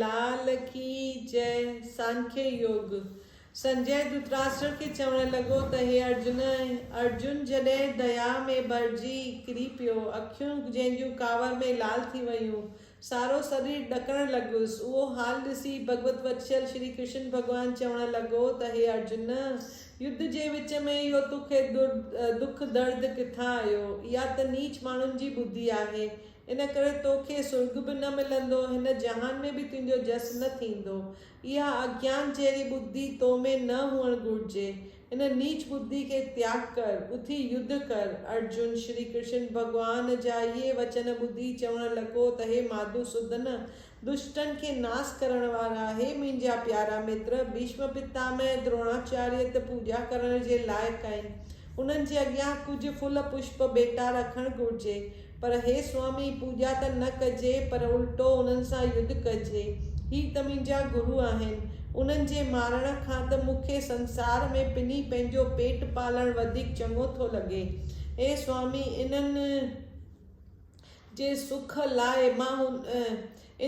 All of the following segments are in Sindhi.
لال ڪي جئه سانکيه يوگ. سنجئه ڌرتراشٽر کي چوڻ لڳو ته هي ارجن! ارجن جڏهن ديا ۾ ڀرجي ڪري پيو، اکيون جنهن جون ڪاوڙ ۾ لال ٿي ويون، سارو سرير ڏڪڻ لڳس، اهو حال ڏسي ڀڳوت وتسل شري ڪرشن ڀڳوان چوڻ لڳو ته هي ارجن! يڌ جي وچ ۾ اهو توکي دک درد ڪٿان آيو؟ اها ته نيچ ماڻهن جي ٻڌي آهي. ان ڪري تو کي سرڳ به نه ملندو، هن جهان ۾ به تنهنجو جس نه ٿيندو. اها اگيان جهڙي ٻڌي تو ۾ نه هئڻ گهرجي. ان نيچ ٻڌي کي تياڳ ڪر، اٿي يڌ ڪر. ارجن، شري ڪرشن ڀڳوان جا اهي وچن ٻڌي چوڻ لڳو ته هي ماڌوسودن! دشٽن کي ناس ڪرڻ وارا، هي منهنجا پيارا متر، ڀيشم پتامه ۽ ڌروڻاچاريه ته پوڄا ڪرڻ جي لائق آهن. انهن جي اڳيان ڪجهه ڦل پشپ ڀيٽا رکڻ گهرجي. پر هي سوامي، پوڄا ته نه ڪجي، پر الٽو انهن سان يڌ ڪجي. هي ته منهنجا گرو آهن. انهن جي مارڻ کان ته مون کي سنسار ۾ پني پنهنجو پيٽ پالڻ وڌيڪ چڱو ٿو لڳي. اي سوامي، انهن. جي سک لاء مان هن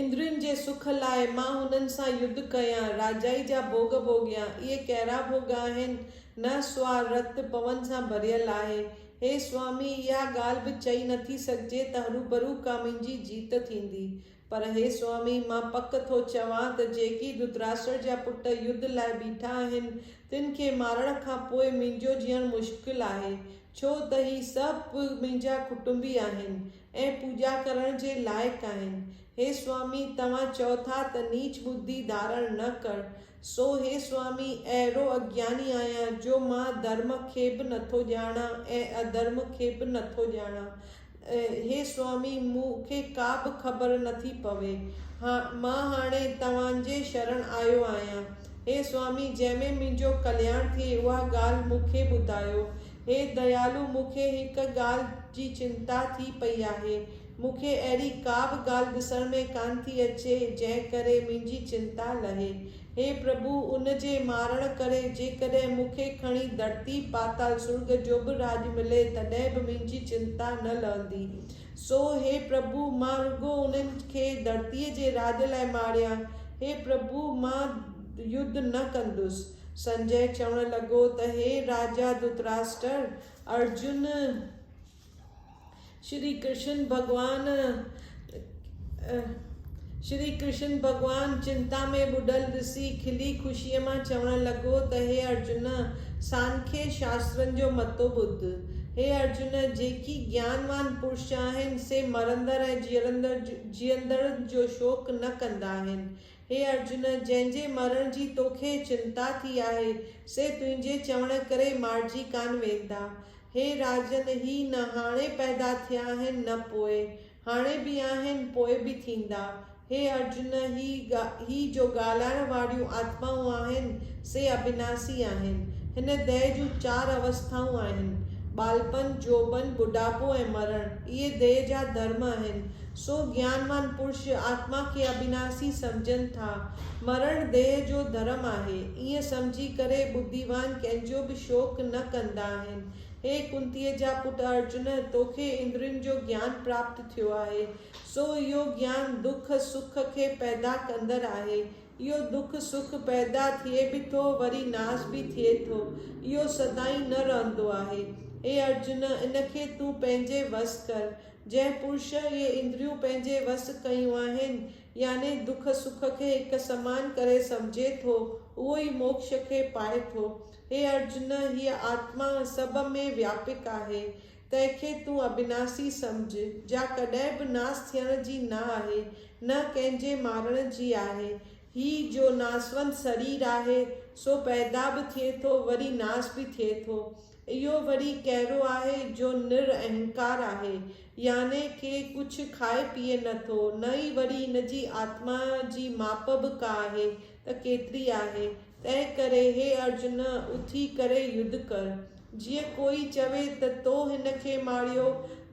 اندرين جي سک لاء مان هنن سان يڌ ڪيان، راجائي جا ڀوڳ ڀوڳيان. اهي ڪهڙا ڀوڳ آهن؟ نه سوا رت پون سان ڀريل آهي. هي سوامي، اها ڳالهه به چئي نه ٿي سگهجي ته هروڀرو ڪا منهنجي جيت ٿيندي. پر هي سوامي، مان پڪ ٿو چوان ته جيڪي ڌرتراشٽر جا پٽ يڌ لاء بيٺا آهن، تن کي مارڻ کان پوء منهنجو جيئڻ مشڪل آهي. ڇو ته هي سڀ به منهنجا ڪٽنبي آهن ۽ پوڄا ڪرڻ جي لائق آهن. هي سوامي، توهان چئو ٿا ته نيچ ٻڌي ڌارڻ نه ڪر. سو هي سوامي، اهڙو اگياني آهيان جو مان ڌرم کي به نٿو ڄاڻان ۽ اڌرم کي به نٿو ڄاڻان. هي سوامي، مون کي ڪا به خبر نه ٿي پوي. مان هاڻي توهان جي شرڻ آيو آهيان. هي سوامي، جنهن ۾ منهنجو ڪلياڻ ٿئي، اها ڳالهه مون کي ٻڌايو. هي ديالو، مون کي هڪ ڳالهه جي چنتا ٿي پئي آهي. مون کي اهڙي ڪا به ڳالهه ڏسڻ ۾ ڪانه ٿي اچي، جنهن ڪري منهنجي چنتا لهي. هي پرڀو! ان جي مارڻ ڪري جيڪڏهن مون کي کڻي ڌرتي، پاتال، سرڳ جو به راڄ ملي تڏهن به منهنجي چنتا نه لهندي. سو هي پرڀو! مان رڳو انهن کي ڌرتيء جي راڄ لاء ماريان. هي پرڀو! مان يڌ نه ڪندس. سنجئه چوڻ لڳو ته هي راجا ڌرتراشٽر! ارجن! شري ڪرشن ڀڳوان شري ڪرشن ڀڳوان چنتا ۾ ٻڏل ڏسي کلي خوشيء مان چوڻ لڳو ته هي ارجن! سانکي شاسترن جو متو ٻڌ. هي ارجن! جيڪي گيانوان پرش آهن، سي مرندڙ ۽ جيئرندڙ جيئندڙن جو شوق نه ڪندا آهن. هي ارجن! جنهن جي مرڻ جي توکي چنتا ٿي آهي، سي تنهنجي چوڻ ڪري مارجي ڪانه ويندا. هي راجن! هي نه هاڻي پيدا ٿيا آهن نه پوء. هاڻي به آهن، پوء به ٿيندا. هي ارجن! هي هي جو ڳالهائڻ واريون آتمائون آهن، سي ابناسي آهن. هن ديهه جون چار اوسٿائون آهن، ٻالپن، جوڀن، ٻڍاپو ۽ مرڻ. اهي ديهه جا ڌرم آهن. سو گيانوان پرش آتما کي اٻناسي سمجهن ٿا. مرڻ ديهه جو ڌرم آهي. ائين سمجهي ڪري ٻڌيوان ڪنهن جو به شوڪ نه ڪندا آهن. هي ڪنتيء جا پٽ ارجن! توکي اندرين جو گيان پراپت ٿيو آهي. سو اهو گيان دک سک کي پيدا ڪندڙ آهي. اهو دک سک پيدا ٿئي به ٿو وري ناس به ٿئي ٿو. اهو سدائين نه رهندو آهي. هي ارجن! ان کي تون پنهنجي وس ڪر. جنهن پرش اهي اندريون پنهنجي وس ڪيون آهن، يعني دک سک کي هڪ سمان ڪري سمجهي ٿو، اهو ئي موڪش کي پائي ٿو. هي ارجن! هيء آتما سڀ ۾ وياپڪ آهي، تنهن کي تون ابناسي سمجهه، جا ڪڏهن به ناس ٿيڻ جي نه آهي، نه ڪنهن جي مارڻ جي آهي، هي جو ناسوند سرير آهي، سو پيدا به ٿئي ٿو، وري ناس به ٿئي ٿو. اهو وري ڪهڙو آهي، جو نر اهنڪار آهي، يعني ڪي ڪجهه کائي پيئي نه ٿو، نه ئي وري هن جي آتما جي ماپ به ڪا آهي، ته ڪيتري آهي. تنهنڪري هي ارجن! اٿي ڪري يڌ ڪر. جيئن ڪوئي چوي ته تو هن کي ماريو،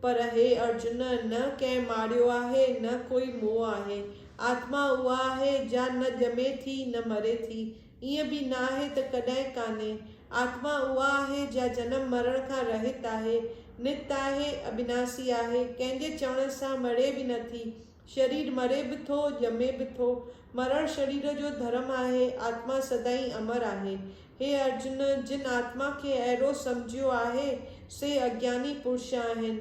پر هي ارجن! نه ڪنهن ماريو آهي، نه ڪوئي موئو آهي، آتما اها آهي جا نه ڄمي ٿي نه مري ٿي، ائين به نه آهي ته ڪڏهن ڪانهي. آتما اها آهي جا جنم مرڻ کان رهت آهي، نت آهي، ابناسي آهي، ڪنهن جي چوڻ سان مڙي به نه ٿي. شرير مري به ٿو، ڄمي به ٿو. مرڻ شرير جو ڌرم آهي، آتما سدائين امر آهي. هي ارجن! جن آتما کي اهڙو سمجهيو آهي، سي اگياني پرش آهن.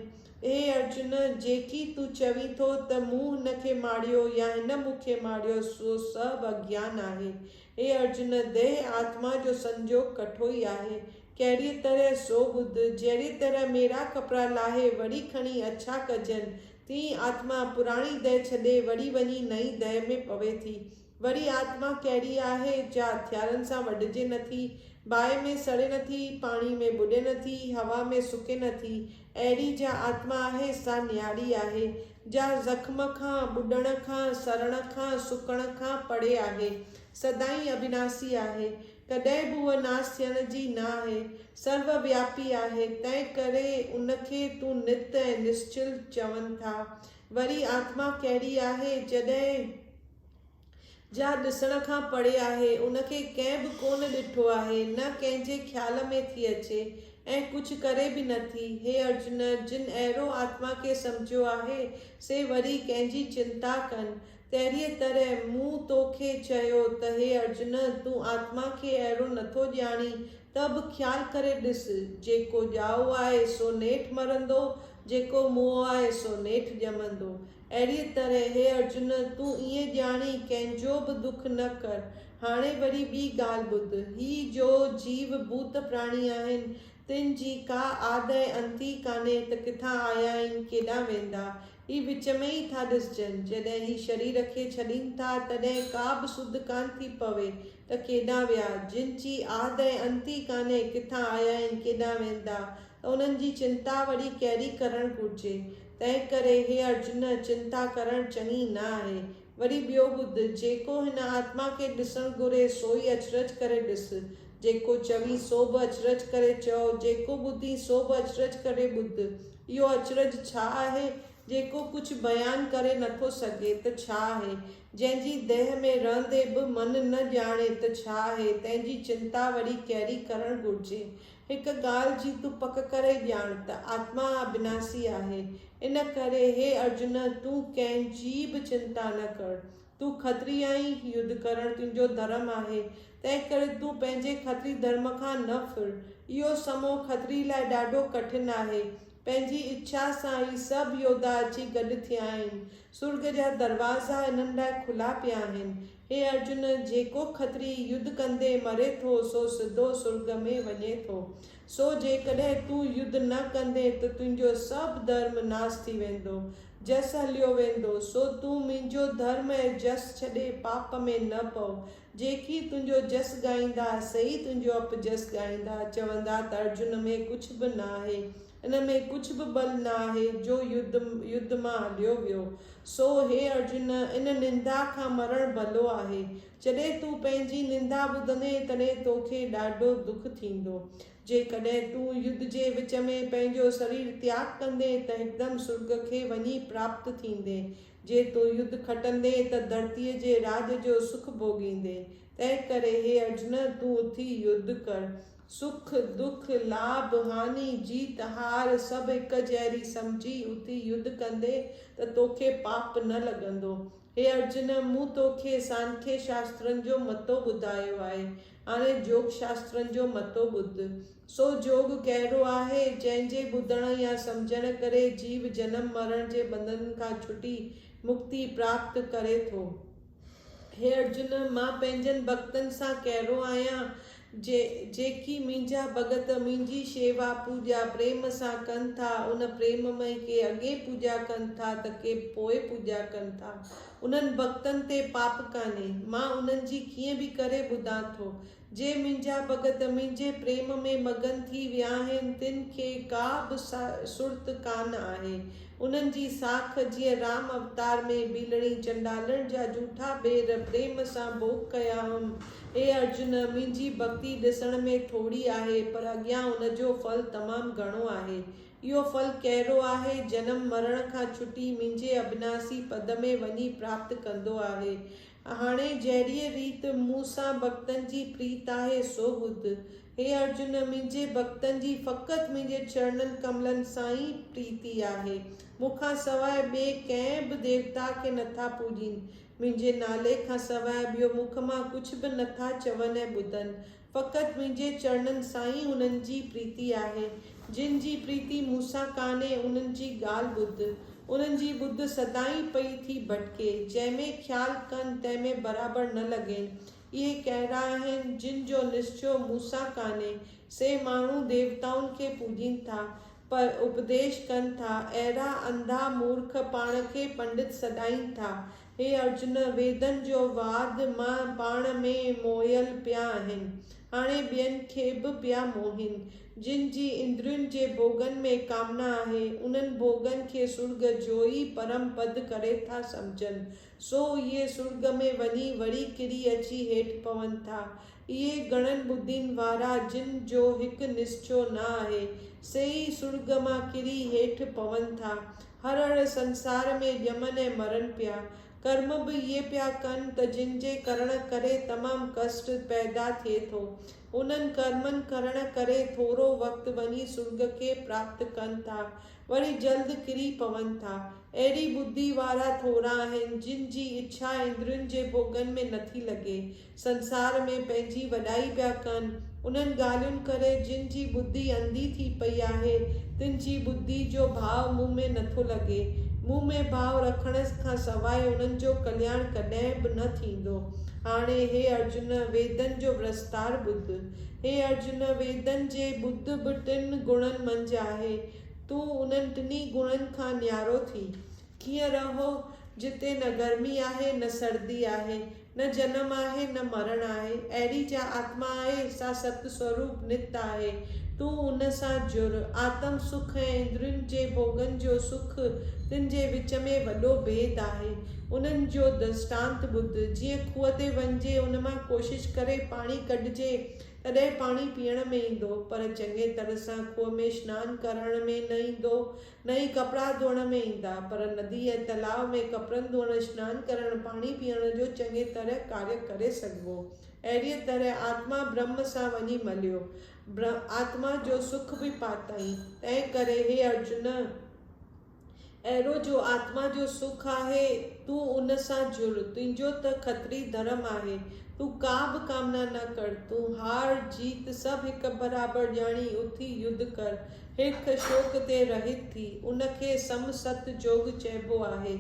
اي ارجن! جيڪي تون چوين ٿو ته مون هن کي ماريو يا هن مون کي ماريو، سو سڀ اگيان آهي. اي ارجن! ديهه آتما جو سنجوڳ ڪٺو ئي آهي. ڪهڙيء طرح، سو ٻڌ. جهڙيء طرح ميرا ڪپڙا لاهي وري کڻي اڇا ڪجن، تيئن ئي آتما پراڻي ديهه ڇڏي وري وڃي نئين ديهه ۾ پوي ٿي. وري آتما ڪهڙي آهي، جا هٿيارن سان وڍجي نه ٿي، باهه ۾ سڙي نه ٿي، پاڻي ۾ ٻڏي نه ٿي، هوا ۾ سڪي نه ٿي، اهڙي جا آتما آهي، سا نياڻي آهي، جا زخم کان، ٻڏڻ کان، سڙڻ کان، سڪڻ کان پري آهي، سدائين اوناسي آهي، ڪڏهن به هوء ناس ٿيڻ جي نه آهي، سرو وياپي آهي، تنهن ڪري ان کي تون نت ۽ نسچل چون ٿا. وري آتما ڪهڙي آهي، جڏهن. جا ڏسڻ کان پري آهي، ان کي ڪنهن به ڪونه ڏٺو آهي، نه ڪنهن جي خيال ۾ ٿي اچي ۽ ڪجهه ڪري به نه ٿي. هي ارجن، جن اهڙو آتما کي سمجهيو آهي، سي وري ڪنهن جي چنتا ڪن؟ تهڙيء طرح مون تو کي چيو ته هي ارجن، تون آتما کي اهڙو نه ٿو ڄاڻين، ته به خيال ڪري ڏس، جيڪو ڄائو آهي، سو نيٺ مرندو، جيڪو موئو آهي، سو نيٺ ڄمندو. اهڙيء طرح هي ارجن! تون ائين ڄاڻي ڪنهن جو به دک نه ڪر. هاڻي وري ٻي ڳالهه ٻڌ. هي جو جيو ڀوت پراڻي آهن، تن جي ڪا آد ۽ انت ئي ڪانهي ته ڪٿان آيا آهن، ڪيڏانهن ويندا. هي وچ ۾ ئي ٿا ڏسجن. جڏهن هي شرير کي ڇڏين ٿا، تڏهن ڪا به سڌ ڪانه ٿي پوي ته ڪيڏانهن ويا. جن جي آد ۽ انت ئي ڪانهي، ڪٿان آيا آهن، ڪيڏانهن ويندا، ته انهن جي چنتا وري ڪهڙي ڪرڻ گهرجي. تنهنڪري هي ارجن، چنتا ڪرڻ چڱي نه آهي. وري ٻيو ٻڌ، جيڪو هن آتما کي ڏسڻ گهري، سوئي اچرج ڪري ڏس. جيڪو چوين، سو به اچرج ڪري چئو، جيڪو ٻڌين، سو به اچرج ڪري ٻڌ. اهو اچرج ڇا آهي؟ جيڪو ڪجهه بيان ڪري نٿو سگهي، ته ڇا آهي؟ جنهن جي ديهه ۾ رهندي به من نه ڄاڻي، ته ڇا آهي؟ تنهن جي چنتا وري ڪهڙي ڪرڻ گهرجي؟ هڪ ڳالهه جي تون پڪ ڪري ڄاڻ ته آتما ابناسي آهي، ان ڪري هي ارجن تون ڪنهن جي به چنتا نه ڪر. تون کتري آهين، يڌ ڪرڻ تنهنجو ڌرم آهي، تنهن ڪري تون پنهنجي کتري ڌرم کان نه ڦر. اهو سمو کتري لاء ڏاڍو ڪٺن آهي. پنهنجي اڇا سان هي سڀ يوڌا اچي گڏ ٿيا آهن. سرڳ جا دروازا هنن لاء کلا پيا آهن. هي ارجن! جيڪو کتري يڌ ڪندي مري ٿو، سو سڌو سرڳ ۾ وڃي ٿو. سو جيڪڏهن تون يڌ نه ڪندين ته تنهنجو سڀ ڌرم ناس ٿي ويندو، جس هليو ويندو. سو تون منهنجو ڌرم ۽ جس ڇڏي پاپ ۾ نه پؤ. جيڪي تنهنجو جس ڳائيندا، سي ئي تنهنجو اپجس ڳائيندا. چوندا ته ارجن ۾ ڪجهه به ناهي. ان ۾ ڪجهه به ٻل نه آهي جو يڌ مان اڏيو ويو. سو هي ارجن! ان نندا کان مرڻ ڀلو آهي. جڏهن تون پنهنجي نندا ٻڌندين تڏهن توکي ڏاڍو دک ٿيندو. جيڪڏهن تون يڌ جي وچ ۾ پنهنجو سرير تياڳ ڪندين ته هڪدم سرڳ کي وڃي پراپت ٿيندين. جي تون يڌ کٽندين ته ڌرتيء جي راڄ جو سک ڀوڳيندين. تنهنڪري هي ارجن! تون اٿي يڌ ڪر. سک دک، لاڀ هاني، جيت هار سڀ هڪ جهڙي سمجهي اتي يڌ ڪندين ته توکي پاپ نه لڳندو. هي ارجن! مون توکي سانکي شاسترن جو متو ٻڌايو آهي، هاڻي جوگ شاسترن جو متو ٻڌ. سو جوگ ڪهڙو آهي؟ جنهن جي ٻڌڻ يا سمجهڻ ڪري جيو جنم مرڻ جي ٻنڌنن کان ڇٽي مڪتي پراپت ڪري ٿو. هي ارجن! مان پنهنجن ڀڳتن سان ڪهڙو آهيان؟ جيڪي منهنجا ڀڳت منهنجي شيوا، پوڄا، پريم سان ڪن ٿا، ان پريم ۾ ڪي اڳي پوڄا ڪن ٿا ته ڪي پوء پوڄا ڪن ٿا. انهن ڀڳتن تي پاپ ڪانهي. مان انهن جي ڪيئن به ڪري ٻڌان ٿو. جي منهنجا ڀڳت منهنجي پريم ۾ مگن ٿي ويا آهن تن کي ڪا به سرت ڪانه آهي. انهن جي ساک جيئن رام اوتار ۾ ڀيلڙي چنڊالڻ جا جوٺا ٻير پريم سان ڀوڳ ڪيا هئم اي ارجن! منهنجي ڀڳتي ڏسڻ ۾ ٿوري آهي، پر اڳيان ان جو ڦل تمام گهڻو آهي. اهو ڦل ڪهڙو آهي؟ جنم مرڻ کان ڇٽي منهنجي اڀناسي پد ۾ وڃي پراپت ڪندو آهي. هاڻي جهڙيء ريت مون سان ڀڳتن جي پريت آهي، سو ٻڌ. هي ارجن! منهنجي ڀڳتن جي فقط منهنجي چرڻن ڪملن سان ئي پريتي آهي. مون کان سواء ٻئي ڪنهن به ديوتا کي نٿا پوڄين. منهنجي نالي کان سواء ٻيو مک مان ڪجهه به نه ٿا چون ۽ ٻڌن. فقط منهنجي چرڻن سان ئي انهن جي پريتي آهي. جن جي پريتي مون سان ڪانهي، انهن جي ڳالهه ٻڌ. انهن جي ٻڌ سدائين پئي ٿي ڀٽڪي. جنهن ۾ خيال ڪن، تنهن ۾ برابر نه لڳين. اهي ڪهڙا آهن، جن جو نسچو مون سان ڪانهي. سي ماڻهو ديوتائن کي پوڄين ٿا. پر اپديش ڪن ٿا، اهڙا انڌا مورک پاڻ کي پنڊت سڏائين ٿا. هي ارجن! ويدن جو واد مان پاڻ ۾ موهيل پيا آهن، هاڻي ٻين کي به پيا موهين. جن جي اندرين جي ڀوڳن ۾ ڪامنا آهي، انهن ڀوڳن کي سرڳ جوئي پرم پد ڪري ٿا سمجهن. سو اهي سرڳ ۾ وڃي وري ڪري اچي هيٺ پون ٿا. اهي گهڻن ٻڌين وارا جن جو هڪ نسچو نه آهي، سي ئي سرڳ مان ڪري هيٺ پون ٿا. هر اڙ سنسار ۾ ڄمن ۽ مرن پيا. ڪرم به اهي پيا ڪن ته جن جي ڪرڻ ڪري تمام ڪشٽ پيدا ٿئي ٿو. انهن ڪرمن ڪرڻ ڪري ٿورو وقت وڃي سرڳ کي پراپت ڪن ٿا، وري جلد ڪري پون ٿا. اهڙي ٻڌي وارا ٿورا آهن، جن جي اڇا اندرين جي ڀوڳن ۾ نٿي لڳي، سنسار ۾ پنهنجي وڏائي پيا ڪن، انهن ڳالهين ڪري جن جي ٻڌي انڌي ٿي پئي آهي، تن جي ٻڌي جو ڀاء مون ۾ نٿو لڳي، مون ۾ ڀاء رکڻ کان سواء انهن جو ڪلياڻ ڪڏهن به نه ٿيندو، هاڻي هي ارجن ويدن جو ورستار ٻڌ، هي ارجن ويدن جي ٻڌ به ٽن گڻن منجهه آهي، تون انهن ٽنهي گڻن کان نيارو ٿي، ڪيئن رهو، جتي نه گرمي آهي، نه سردي آهي، نه جنم آهي، نه مرڻ آهي، اهڙي جا آتما آهي، سا ست سوروپ نت آهي، تون ان سان جڙ، آتم سک ۽ اندرين جي ڀوڳن جو سک، تن جي وچ ۾ وڏو ڀيد آهي، انهن جو درشٽانت ٻڌ، جيئن کوهه تي وڃجي، ان مان ڪوشش ڪري پاڻي ڪڍجي، تڏهن پاڻي پيئڻ ۾ ايندو، پر چڱي طرح سان کوهه ۾ شنان ڪرڻ ۾ نه ايندو، نه ئي ڪپڙا ڌوئڻ ۾ ايندا، پر ندي ۽ تلاء ۾ ڪپڙن ڌوئڻ، شنان ڪرڻ، پاڻي پيئڻ جو چڱي طرح ڪاري ڪري سگهبو. اهڙيء طرح آتما برهم سان وڃي مليو، برهم آتما جو سک به پاتائين. تنهن ڪري، هي ارجن! اهڙو جو آتما جو سک آهي، تون ان سان جڙ، تنهنجو ته کتري ڌرم آهي، تون ڪا به ڪامنا نه ڪر، تون هار، جيت سڀ هڪ برابر ڄاڻي اٿي يڌ ڪر، هرک شوق تي رهيت ٿي، ان کي سم ست جوڳ چئبو آهي،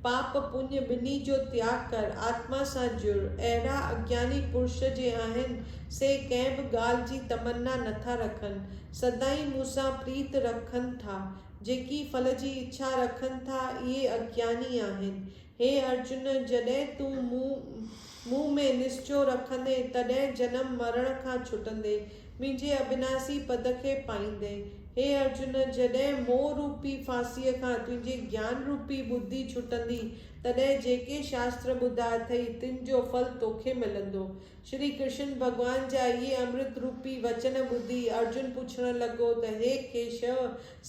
پاپ پڃ ٻنهي جو تياڳ ڪر، آتما سان جڙ، اهڙا اگياني پرش جي آهن، سي ڪنهن به ڳالهه جي تمنا نٿا رکن، سدائين مون سان پريت رکن ٿا، جيڪي ڦل جي اڇا رکن ٿا، اهي اگياني آهن. هي ارجن! جڏهن تون مون مون ۾ نسچو رکندين، تڏهن جنم مرڻ کان ڇٽندين، منهنجي اڀناسي پد کي پائيندين. هي ارجن! جڏهن موهه روپي ڦاسيء کان تنهنجي گيان روپي ٻڌي ڇٽندين، تڏهن جيڪي شاستر ٻڌا اٿئي، تن جو ڦل توکي ملندو. شري ڪرشن ڀڳوان جا اهي امرت روپي وچن ٻڌي ارجن پڇڻ لڳو ته هي ڪيشو،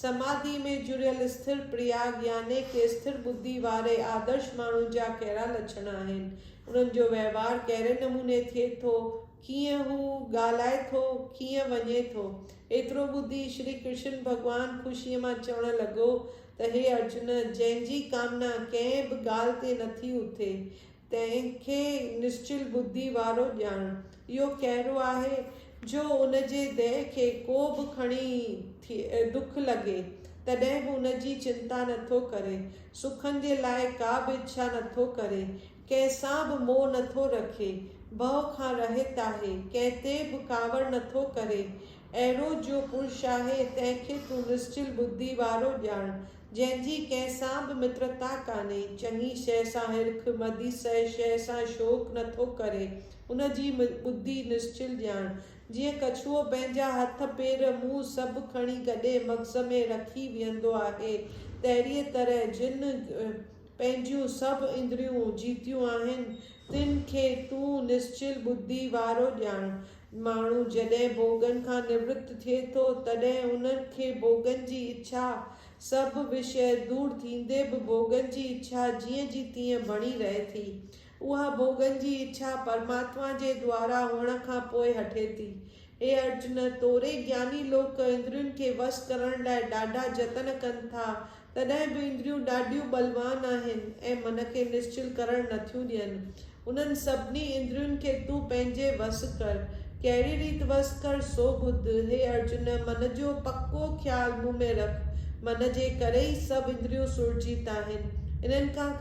سماڌيء ۾ جڙيل اسٿر پرياگ يعني ڪي اسٿر ٻڌي واري آدرش ماڻهو جا ڪهڙا لڇڻ آهن؟ انهن جو وهنوار ڪهڙي نموني ٿئي ٿو؟ ڪيئن هو ڳالهائي ٿو؟ ڪيئن وڃي ٿو؟ ايترو ٻڌي شري ڪرشن ڀڳوان خوشيء مان چوڻ لڳو ته هي ارجن! جنهن جي ڪامنا ڪنهن به ڳالهه تي نٿي اٿي، تنهن کي نسچل ٻڌي وارو ڄاڻ اهو ڪهڙو آهي، جو ان جي ديهه کي ڪو به کڻي ڏک لڳي، تڏهن به ان جي چنتا نه ٿو ڪري، سکن جي لاء ڪا به اڇا نه ٿو ڪري، ڪنهن سان به موهه نه ٿو رکي، ڀؤ کان رهت آهي، ڪنهن تي به ڪاوڙ نه ٿو ڪري، اهڙو جو پرش آهي، تنهن کي تون نسچل ٻڌي وارو ڄاڻ، جنهن جي ڪنهن سان به مترتا ڪانهي، چڱي شيء سان هرک، مدي سئي شيء سان شوق نه ٿو ڪري، ان جي ٻڌي نسچل ڄاڻ. جيئن ڪڇوء پنهنجا هٿ، پير، منهن سڀ کڻي گڏي مغز ۾ رکي ويهندو آهي، تهڙيء طرح جن پنهنجيون سڀ اندريون جيتيون آهن، تن کي تون نسچل ٻڌي وارو ڄاڻ، ماڻهو جڏهن ڀوڳن کان نوت ٿئي ٿو، تڏهن ان کي ڀوڳن جي اڇا، سڀ وشيه دور ٿيندي به ڀوڳن جي اڇا جيئن جي تيئن بڻي رهي ٿي. اها ڀوڳن جي اڇا پرماتما جي دوارا هئڻ کان پوء هٽي ٿي. هي ارجن! توري گياني لوڪ اندرين کي وس ڪرڻ لاء ڏاڍا جتن ڪن ٿا، تڏهن به اندريون ڏاڍيون ٻلوان آهن ۽ من کي نشچل ڪرڻ نٿيون ڏين. انهن سڀني اندرين کي تون پنهنجي وس ڪر. ڪهڙي ريت وس ڪر سو ٻڌ. هي ارجن! من جو پڪو خيال مون ۾ رک. من جي ڪري ئي سڀ اندريون سرجيت آهن. انهن کان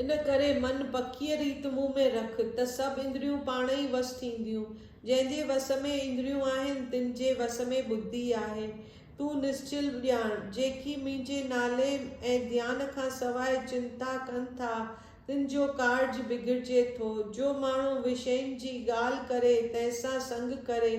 ان ڪري من پڪيء ريت مون ۾ رک ته سڀ اندريون پاڻ ئي وس ٿينديون. جنهن جي وس ۾ اندريون آهن تن جي وس ۾ ٻڌي آهي. تون نسچل ڄاڻ، جيڪي منهنجي نالي ۽ ڌيان کان سواء چنتا ڪن ٿا، تن جو ڪارج بگڙجي ٿو. جو ماڻهو وشين جي ڳالهه ڪري، تنهن سان سنگ ڪري،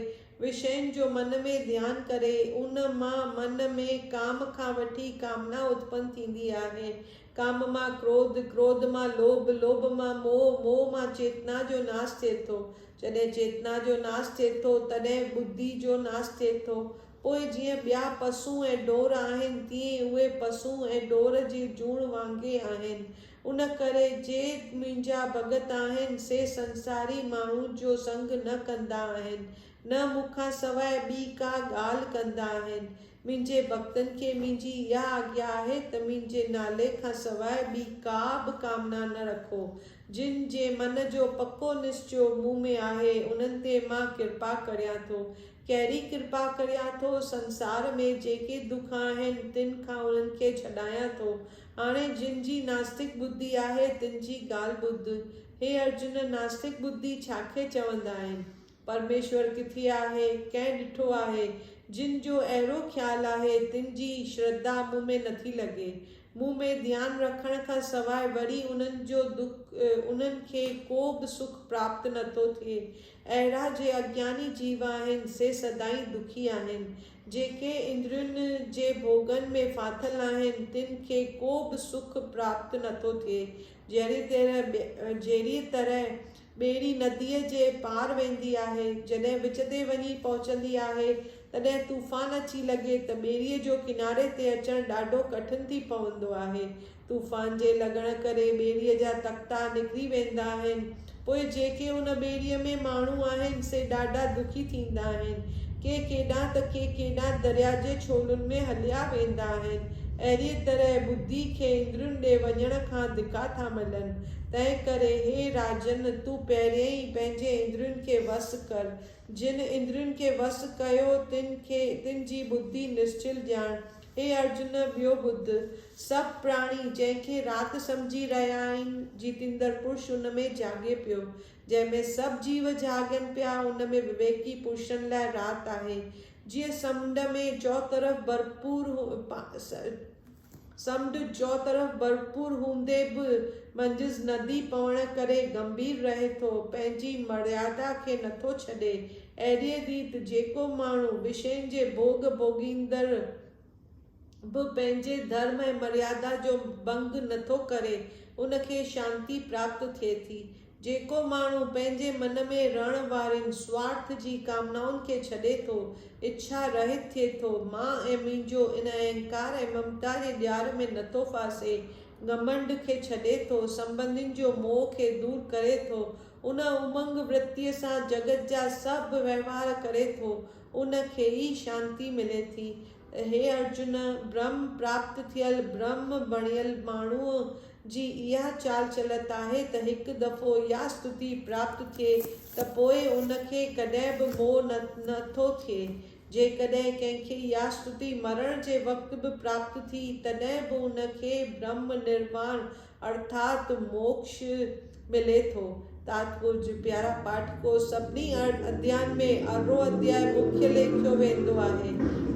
وشين جو من ۾ ڌيان ڪري، ان مان من ۾ ڪام کان وٺي ڪامنا اتپن ٿيندي آهي. ڪام مان ڪروڌ، ڪروڌ مان لوڀ، لوڀ مان موهه، موهه مان چيتنا جو ناس ٿئي ٿو. جڏهن چيتنا جو ناس ٿئي ٿو، تڏهن ٻڌي جو ناس ٿئي ٿو. پوء جيئن ٻيا پسون ۽ ڍور آهن، تيئن اهي پسون ۽ ڍور جي جوڻ وانگي آهن. ان ڪري جي منهنجا ڀڳت آهن، سي سنساري ماڻهو جو سنگ نه ڪندا آهن، نه مون کان سواء ٻي ڪا ڳالهه ڪندا آهن. منهنجي ڀڳتن کي منهنجي اها آگيا آهي ته منهنجي نالي کان سواء ٻي ڪا به ڪامنا نه رکو. جن جي من جو پڪو نسچيو مون ۾ آهي، انهن تي مان ڪرپا ڪريان ٿو. ڪهڙي ڪرپا ڪريان ٿو، سنسار ۾ جيڪي دک آهن، تن کان انهن کي ڇڏايان ٿو. هاڻي جن جي ناستڪ ٻڌي آهي، تن جي ڳالهه ٻڌ. هي ارجن! ناستڪ ٻڌي ڇا کي چوندا آهن؟ پرميشور ڪٿي آهي؟ ڪنهن ڏٺو آهي؟ جن جو اهڙو خيال آهي، تن جي شرڌا مون ۾ نٿي لڳي. مون ۾ ڌيان رکڻ کان سواء وري انهن جو دک، انهن کي ڪو به سک پراپت نٿو ٿئي. اهڙا جي اجناني جيو آهن، سي سدائين دکي آهن. جيڪي اندرين جي ڀوڳن ۾ ڦاٿل آهن، تن کي ڪو به سک پراپت نه ٿو ٿئي. جهڙيء طرح جهڙيء طرح ٻيڙي نديء جي پار ويندي آهي، جڏهن وچ تي وڃي پهچندي آهي، تڏهن طوفان اچي لڳي ته ٻيڙيء جو ڪناري تي اچڻ ڏاڍو ڪٺن ٿي پوندو آهي. طوفان جي لڳڻ ڪري ٻيڙيء جا تختا نڪري ويندا آهن. پوء جيڪي ان ٻيڙيء ۾ ماڻهو آهن، سي ڏاڍا دکي ٿيندا آهن. ڪي ڪيڏانهن ته ڪي ڪيڏانهن درياء جي ڇولن ۾ هليا ويندا آهن. اهڙيء طرح ٻڌي کي اندرين ڏي وڃڻ کان ڌڪا ٿا ملن. تنهن ڪري هي راجن! تون پهريائين پنهنجي اندرين کي وس ڪر. جن اندرين کي وس ڪيو، تن کي تن جي ٻڌي نسچل ڄاڻ هي ارجن! ٻيو ٻڌ. سڀ پراڻي، جنهن کي رات سمجهي رهيا آهن، جيتيندڙ پرش ان ۾ جهاڳي پيو. جنهن ۾ سڀ جيو جهاڳين پيا، ان ۾ وويڪي پرشن لاء رات آهي. جيئن سمنڊ ۾ چؤطرف ڀرپور سمنڊ چؤطرف ڀرپور هوندي به منجهس ندي پوڻ ڪري گنڀير رهي ٿو، پنهنجي مريادا کي نٿو ڇڏي، اهڙيء ريت جيڪو ماڻهو وشين جي ڀوڳ ڀوڳيندڙ به پنهنجي ڌرم ۽ مريادا جو ڀنگ نٿو ڪري، ان کي شانتي پراپت ٿئي ٿي. جيڪو ماڻهو پنهنجي من ۾ رهڻ وارين سوارٿ جي ڪامنائن کي ڇڏي ٿو، اڇا رهت ٿئي ٿو، مان ۽ منهنجو ان اهنڪار ۽ ممتا جي ڄار ۾ نٿو ڦاسي، گهمنڊ کي ڇڏي ٿو، سنٻنڌين جو موهه کي دور ڪري ٿو، ان امنگ ورتيء سان جڳت جا سڀ وهنوار ڪري ٿو، ان کي ئي شانتي ملي ٿي. هي ارجن! برهم پراپت ٿيل، برهم بڻيل ماڻهوء جي اها چال چلت آهي ته هڪ دفعو اها ستتي پراپت ٿئي ته پوء ان کي ڪڏهن به موهه نه ٿو ٿئي. جيڪڏهن ڪنهن کي اها ستتي مرڻ جي وقت به پراپت ٿي، تڏهن به ان کي برهم نرواڻ ارٿات موڪش ملي ٿو. تاتپرج، پيارا پاٺڪو! سڀني ارڙهن اديائن ۾ ارڙهون ادياء مکيه ليکيو ويندو آهي.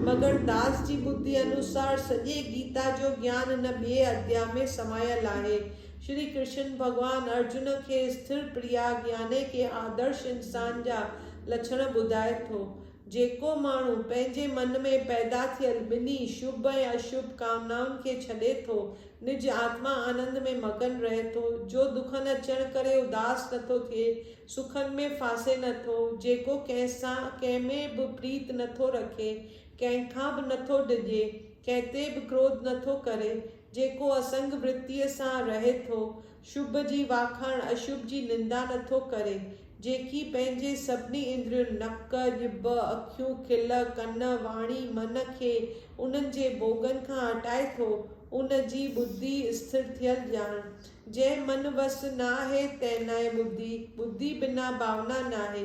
مگر داس جي ٻڌي انوسار سڄي گيتا جو گيان هن ٻئي اديا ۾ سمايل آهي. شري ڪرشن ڀڳوان ارجن کي اسٿر پرياگ يعني ڪي آدرش انسان جا لڇڻ ٻڌائي ٿو. جيڪو ماڻهو پنهنجي من ۾ پيدا ٿيل ٻنهي شڀ ۽ اشڀ ڪامنائن کي ڇڏي ٿو نج آتما آنند ۾ مگن رهي ٿو، جو دکن اچڻ ڪري اداس نه ٿو ٿئي، سکن ۾ ڦاسي نه ٿو، جيڪو ڪنهن سان ڪنهن ۾ به پريت نه ٿو رکي، ڪنهن کان به نه ٿو ڊڄي، ڪنهن تي به ڪروڌ نه ٿو ڪري، جيڪو اسنگ ورتيء سان رهي ٿو، شڀ جي واکاڻ اشڀ جي نندا نه ٿو ڪري. جيڪي پنهنجي سڀني اندرين، نڪ، ڄڀ، اکيون، کل، ڪن، واڻي، من، کي انهن جي ڀوڳن کان هٽائي ٿو، ان جي ٻڌي اسٿر ٿيل ڄاڻ. جنهن من وس ناهي تنهن ناهي ٻڌي، ٻڌي بنا ڀاونا ناهي،